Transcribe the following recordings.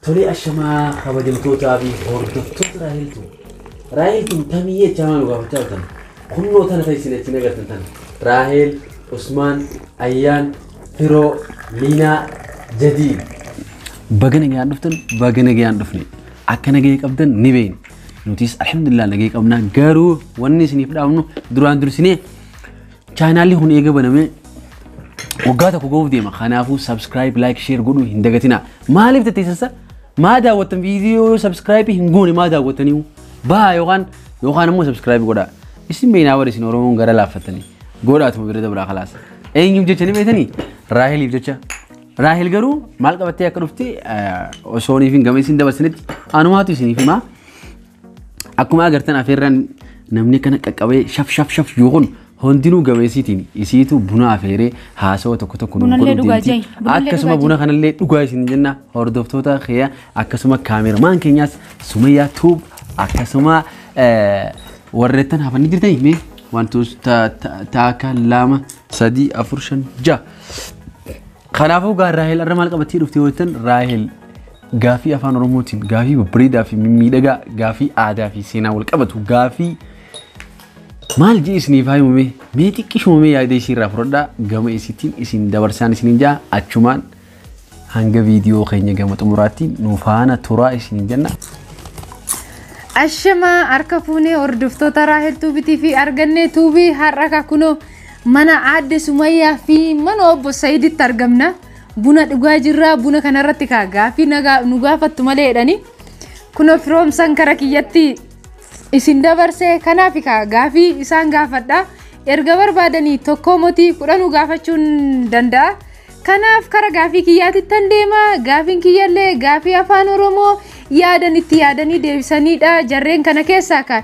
Tolee ashamaa kabajamtootaa fi hordoftoota Raahel Tube. Raahel tun tamii jechaa maa nu gaafachaa turtan. Kunnoo tana ta'e isin achiin agartan tana. Raahel, Usmaan, Ayyaan, Firoo, Liinaa, Jadiid. Baga nagayaan dhuftan baga nagayaan dhufne. Akka nagaya qabdan ni beekna. Nutis alhamdulillah nagaya qabna garuu wanni isiniif dhaabnu duraan dursinee Chaanaalli kun eega baname waggaa tokko gahuuf deema. Kanaafuu subscribe, like, share godhuu hin dagatinaa. Maaliif tatteessassa? Maa daawwattan viidiyoo subscribe hin goone maa daawwattaniihu? Baa yookaan yookaan immoo subscribe godhaa. Isin beeynaa bara isin Oromoon gara laaffattanii. Godhaatuma bira dabraa kalaas. Eenyuuf jecha ni beektanii? Raaheliif jecha. Raahel garuu maal qabattee akka dhufte osoo hin gameessin dabarsinitti anumaatu isiniif himaa. Akkuma agartan afeerraan namni kana qaqqabee shaf shaf shaf yoo kun hundinuu gameessiitiin isiitu buna afeeree haasawa tokko tokko nuuf Bunallee godhuu dhugaa deemti. jai. Bunallee Akkasuma dhugaa buna kanallee dhugaa isin jenna hordoftoota keenya akkasuma kaameramaan keenyaas Sumayyaa Tuub akkasuma eh, warreettan hafanii jirtanii mee wantoota ta- ta- taaka lama sadii afur shan ja'a. Kanaafuu gaa Raahel arra maal qabattee dhufte yoo jettan Raahel gaafii afaan Oromootiin gaafii babbareedaa fi mimmiidhagaa gaafii aadaa fi seenaa wal qabatu gaafii maal jee isiniif haa himamee mee xiqqishuma mee yaada isii irraa fudhadhaa gama isiitiin isin dabarsaan isiniin jaa achumaan hanga viidiyoo keenya gama xumuraatti nu faana turaa isiniin jenna. Ashamaa harka fuunee hordoftoota Raahel Tuubitii fi argannee tuubii har'a kakunoo Mana aadde Sumayyaa fi mana obbo Sayiditti argamna. Buna dhugaa jirra. Buna kanarratti kaa gaaffii nagaa- nu gaafattu malee jedhanii kunoo firoomsan kara kiyyatti isin dabarse kanaaf kaa gaaffii isaan gaafadha. Erga barbaadanii tokkoo motii kudhanuu gaafachuun danda'a. Kanaaf kara gaaffii kiyyaatittan deema. Gaaffiin kiyyallee gaaffii afaan Oromoo yaadan itti yaadanii deebisanidha. Jarreen kana keessaa kaa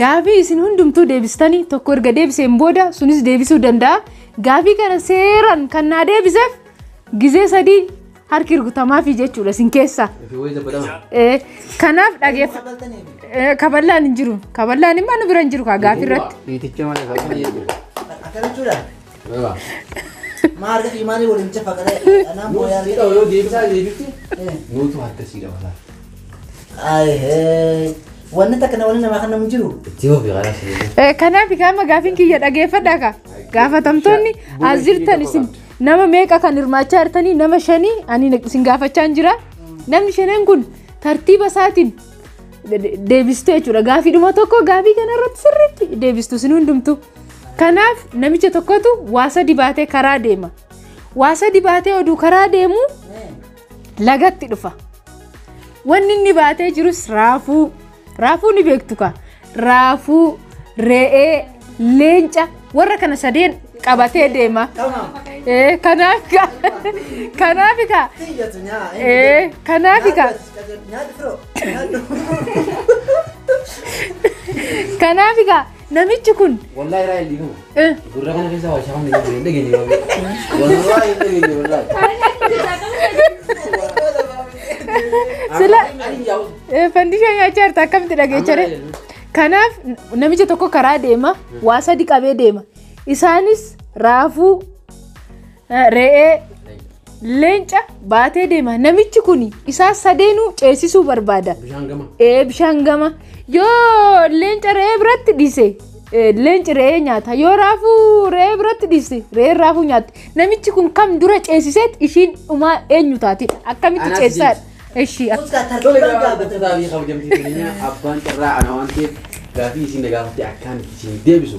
Gaafii isin hundumtuu deebistanii tokko erga deebiseen booda sunis deebisuu danda'a. Gaafii kana seeran kan naa deebiseef gizee sadii harki rukutamaafii jechuudha isin keessa. Eh, Kanaaf dhageef eh, kaballaan hin jiru. Kaballaan immoo nu bira hin jiru kaa gaafii irratti. Dhiiticha malee kan Maarree imaanii waliin jefa kana anaan booyaa Nuti dha'u yoo deebisaa deebifti nuutu harka sii dabalaa. Ayee wanni takka wanni namaa kan namu jiru. Itti hubi karaa sii deebisaa. Kanaaf gaama gaafiin kiyya dhageeffadhaa ka. Gaafatamtoonni as jirtan isin nama meeqa kan hirmaachaa jirtanii nama shanii ani isin gaafachaa hin jira. Namni shanan kun tartiiba isaatiin deebistu jechuudha. Gaafiidhuma tokko gaafii kanarratti sirriitti deebistu isin hundumtu. Kanaaf namicha tokkotu waa sadi baatee karaa deema. Waa sadi baatee oduu karaa deemu lagatti dhufa. Wanni inni baatee jirus raafuu. Raafuu ni beektu kaa. Raafuu, re'ee, leenca warra kana sadeen qabatee deema. Ee, Kanaaf kaa. Kanaaf kaa. Ee, Kanaaf kaa. Kanaaf kaa. Namichi kun. Wallahi raa illi kun. Eh. Gurra kana keessa waa shaamni kan hin dhageenye baabee. Wallahi hin dhageenye wallahi. Sila- Ani jaawus. Eh, Fandishaa nyaachaa jirta akkamitti dhageechare? Kanaaf namicha tokko karaa deema, waa sadi qabee deema. Isaanis raafuu, Re'ee leenca baatee deema. Namichi kun isaa sadeenuu ceesisuu barbaada. Bishaan gama. Ee bishaan gama. Yoo leenca re'ee biratti dhiise ee, leenci re'ee nyaata. Yoo raafuu re'ee biratti dhiise re'een raafuu nyaatti. Namichi kun kam dura ceesiseet ishiin dhumaa eenyu taati? Akkamitti Anaaf ceesisaadha? Ishii Tole egaa hordoftoota fi kabajamtoota keenya abbaan carraa ana waan ta'eef gaafii isin na gaafatte akkaan isin deebisu.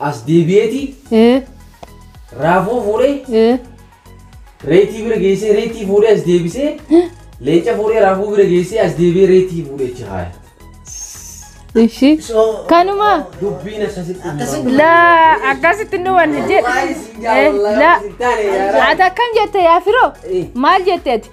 As deebi'eeti ee raafuu fuudhee ee reetii bira geessee reetii fuudhee as deebisee leenca fuudhee raafuu bira geessee as deebi'ee reetii fuudhee achi haaya. ishi kanuma Dubbiin akkasitti hin Akkasitti la akkasitti nu wanni jedhe Waa'ee siin jaalladha, la akkasitti taane yaara. ati akkam jette yaa firoo Eh. maal jette ati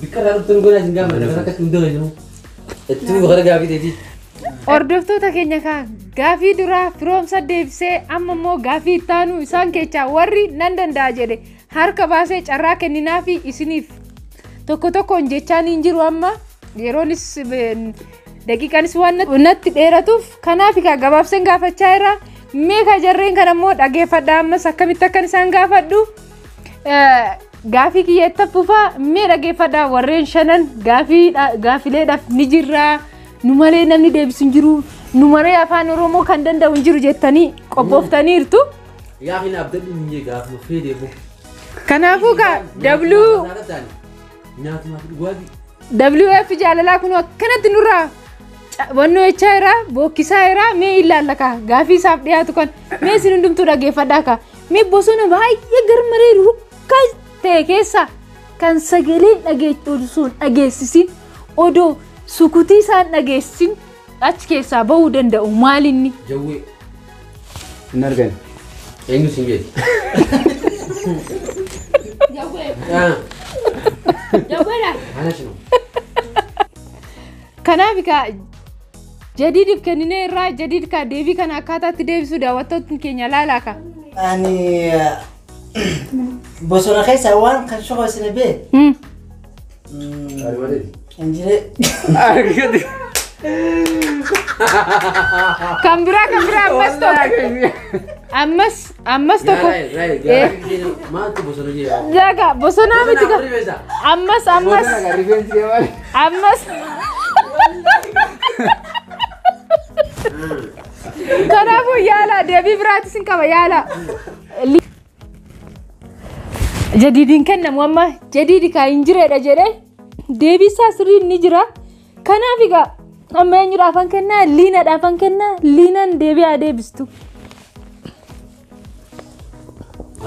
Biqilaa dhuftan goonaa isin gaafa lafa akka itti hundee jiru. Itti gara gaafii deetii. Hordoftoota keenya kaa gaafii duraa firoomsa deebisee amma immoo gaafii ittaanuu isaan keessaa warri nan danda'a jedhe harka baasee carraa kenninaa fi isiniif tokko tokkoon jechaan hin jiru amma yeroonis daqiiqaanis waan natti dheeratuuf kanaaf kaa gabaabseen gaafachaa irraa mee kaa jarreen kan ammoo dhageeffadha ammas akkamitti akkan isaan gaafadhu. Gaafii kiyya itti fufaa mee dhageeffadhaa warreen shanan gaafileedhaaf ni jirraa nu malee namni deebisu hin jiru nu malee afaan oromoo kan danda'u hin jiru jettanii qophooftaniirtu. Gaafiin abdadhu hin jee gaafuma fee deebi'u. Kanaafuu gaa W. Nyaatumaaf dhugaatii. WF jaalalaa kun akkanatti nurraa wannoo jechaa irraa bookkisaa irraa mee ilaalla kaa gaafii isaaf dhiyaatu kan mee isin hundumtuu dhageeffadhaa kaa Mee bosona baay'ee garmalee rukkaas ta'e keessa kan sagaleen dhageechu osoo hin dhageessisin odoo sukutii isaan dhageessisin achi keessaa bahuu danda'u maal inni? Jawwee. Hin argani. Eenyu siin jedhe? Ah, Jawweedha. Ana shinu. Kanaaf egaa Jadiidif kenninee irraa jadiid kaa deebii kana akkaataa itti deebisuu daawwattootni keenya laalaa ka. Ani bosona keessa waan kan shokoo isin bee. Injiree. Kan biraa kan biraa ammas tokko. Ammas Ammas tokko. Maaltu bosona ishee yaa'u? Daga bosonaa miti Bosona gaa. rifeensa. Ammas ammas Bosona kan rifeensi kee maali? ammas. Kanaafuu yaala deebii biraatis hin qaba yaala. Li- Jadiidiin kennamu amma jadiidi kaa hin jireedha jedhee deebii isaa sirriin ni jira. Kanaaf egaa amma eenyudhaafan kennaa liinadhaafan kennaa liinan deebi'aa deebistu.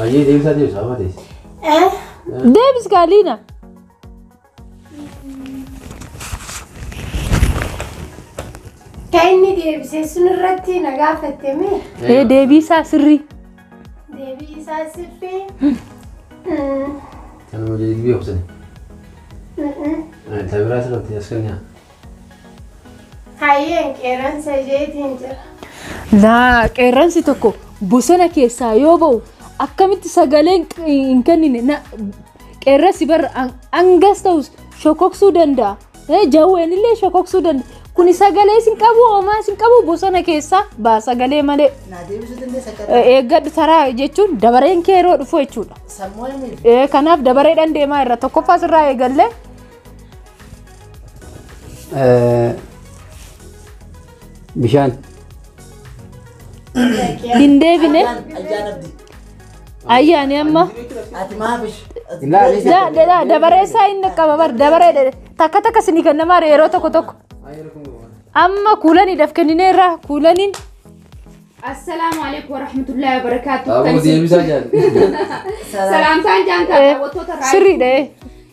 Ayyee deebisaa deebisaa amma deebisa. Deebis kaa liina. Kan inni deebisee sun irratti na gaafatte mee? Ee deebiisaa sirrii. Deebii isaa sirrii. Kana malee ilbii obsani. Taa biraa isa qabdi as kan yaa. Hayyeen qeerransa isheetiin jira. Laa qeerransi tokko bosona keessaa yoo ba'u akkamitti sagalee hin q- hin kennine na- qeerransi barra an- hangas ta'us shokoksuu danda'a. Jawween illee shokoksuu danda'a. Kuni sagalee isin qabu homaa isin qabu bosona keessaa baa sagalee malee Naa deebisuu dandeessa akka Eh, eeggadhu taraa jechuun dabareen kee yeroo dhufu jechuudha. sammuu himiif. Eh, Kanaaf dabareedhaan deemaa irra tokkoffaa sirraa eegallee Bishaan. hin deebine. Ayyaan abdii. Ayya ani amma Ati maafish. da- da- da- dabaree isaa hin dhaqqaba bar dabaree dhe- takka takka sinii kan namaa yeroo tokko tokko. Amma kuulaniidhaaf kenninee irraa kuulaniin Assalaamu alaikum warahmatullahi wabarakatuh. Aboo deebisaa jaalli. Salaamtaan jaantaa daawwattoota irraa sirriidha. eh.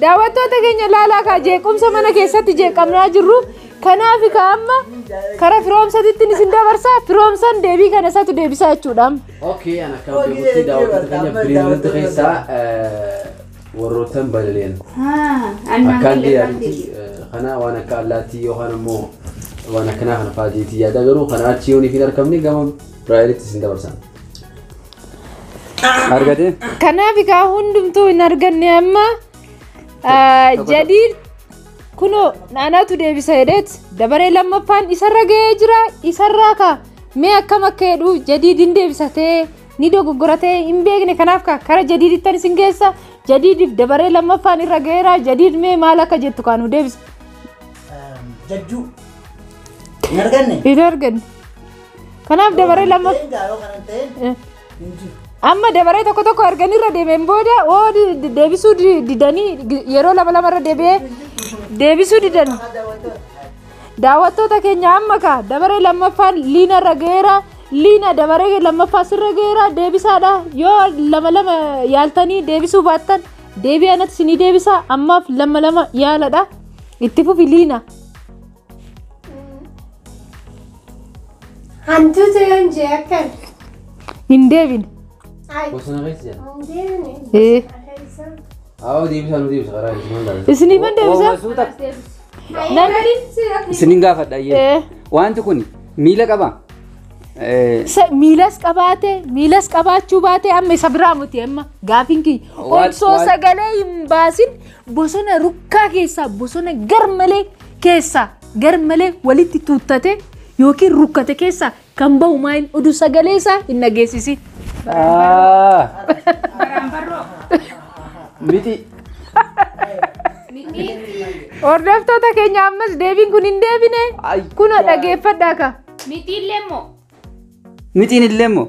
Daawwattoota keenya ilaalaa kaa jeequmsa mana keessatti jeeqamnaa jirru kanaaf ka amma karaa firoomsatitti isin dabarsaa firoomsan deebii kana isaatu deebisaa jechuudha. Okay, an akka beekutti daawwattoota keenya biriirratti keessaa warroottan balali'an. Akkaan deebi'anitti kana waan akka allaattii yookaan immoo waan akkanaa kana fa'aatiitti yaada garuu kana achi yooniif hin argamne gama biraayilitti isin dabarsan. Argate? Kanaaf egaa hundumtuu hin arganne amma ah, tokko- jadiid kunoo naanaatu deebisa jedheet dabaree lammaffaan isarra ga'ee jira isarraa ka mee akkam akka jedhu jadiid hin deebisatee ni dogoggoratee hin beekne kanaaf ka kara jadiidittan isin geessa jadiidiif dabaree lammaffaan irra ga'eera jadiid mee maal akka jettu kaanu deebisa Jajjuu. Hin arganne? hin arganne Kanaaf dabaree lama amma dabaree tokko tokko erganii irra deemeen booda oo deebisuu didanii yeroo lama lama irra deebi'ee deebisuu didan daawwattoota keenya amma ka dabaree lammaffaan liina irra ga'eera liina dabaree lammaffaa sirra ga'eera deebisaadha yoo lama lama yaaltanii deebisuu baattan deebi'anatti sinii deebisaa ammaaf lama lama yaaladha itti fufi liina. Hantuuta yoon jee akkan. Hin deebine. Ay. Bosona keessa jira. Hin deebine. Ee. Keessa. Aawoo deebisaa nu deebisa karaa isin hundaan. Isiniif hin deebisa? Suuta. Namni. Isinin gaafadha ayyee. Ee. Wanti kun miila qaba. Eh, Sa- miilas qabaate miilas qabaachuu baate amma isa biraa muti amma gaafiin kiyya Waan- osoo waan- sagalee hin baasin bosona rukkaa keessaa bosona garmalee keessaa garmalee walitti tuuttate yookiin rukkate keessaa kan bahu maa hin dhudu sagalee isaa hin dhageessisi. Ah. Miti. Hordoftoota keenya ammas deebiin kun hin deebine Ay, kunoo yaa. dhageeffadhaa ka. Mitiillee immoo Mitiin illee immoo.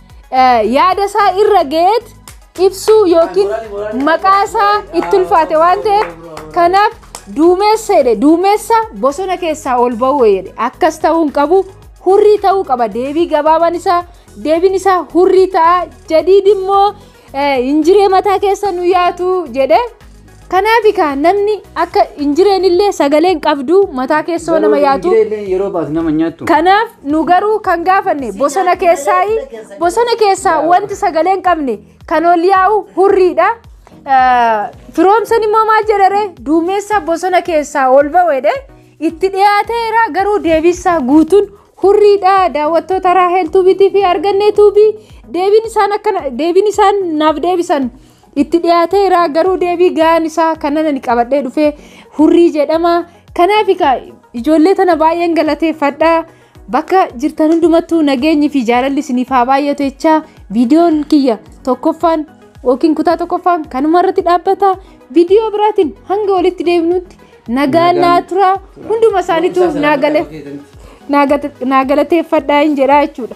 yaada isaa irra ga'eet ibsuu yookiin maqaa isaa itti ulfaate waan ta'eef kanaaf duumessa jedhe duumessa bosona keessaa ol ba'uu jedhe akkas ta'uu hin qabu hurrii ta'uu qaba deebii gabaabaan isaa deebiin isaa hurrii ta'a jadiid immoo Injiree mataa keessa nu yaatu jedhe. Kanaaf egaa namni akka injireen illee sagalee hin qabdu mataa keessoo nama yaatu. Yeroo baatu nama nyaattu. Kanaaf nu garuu kan gaafanne bosona keessaa bosona keessaa wanti sagalee hin qabne kan ol yaa'u hurriidha. Firoomsan immoo maal jedhare duumessa bosona keessaa ol ba'edhe itti dhiyaateera garuu deebisaa guutuun hurriidha daawwattoota Raahel Tuubiitii fi Argannee Tuubii deebiin isaan akkana deebiin isaan naaf deebisan itti dhiyaateera garuu deebii ga'aan isaa kanan ani qabadhee dhufee hurrii jedhama kanaaf egaa ijoollee tana baay'een galateeffadha bakka jirtan hundumattuu nageenyi fi jaalalli isiniif haa baay'atu jechaa viidiyoon kiyya tokkoffaan yookiin kutaa tokkoffaan kanuma irratti dhaabbata viidiyoo biraatiin hanga walitti deebinutti Nagaan Nagaan- naa tura hunduma isaaniitu Barumsaa naa sana gale- bakka keessanitti. naa gate- naa galateeffadhaa hin jedhaa jechuudha.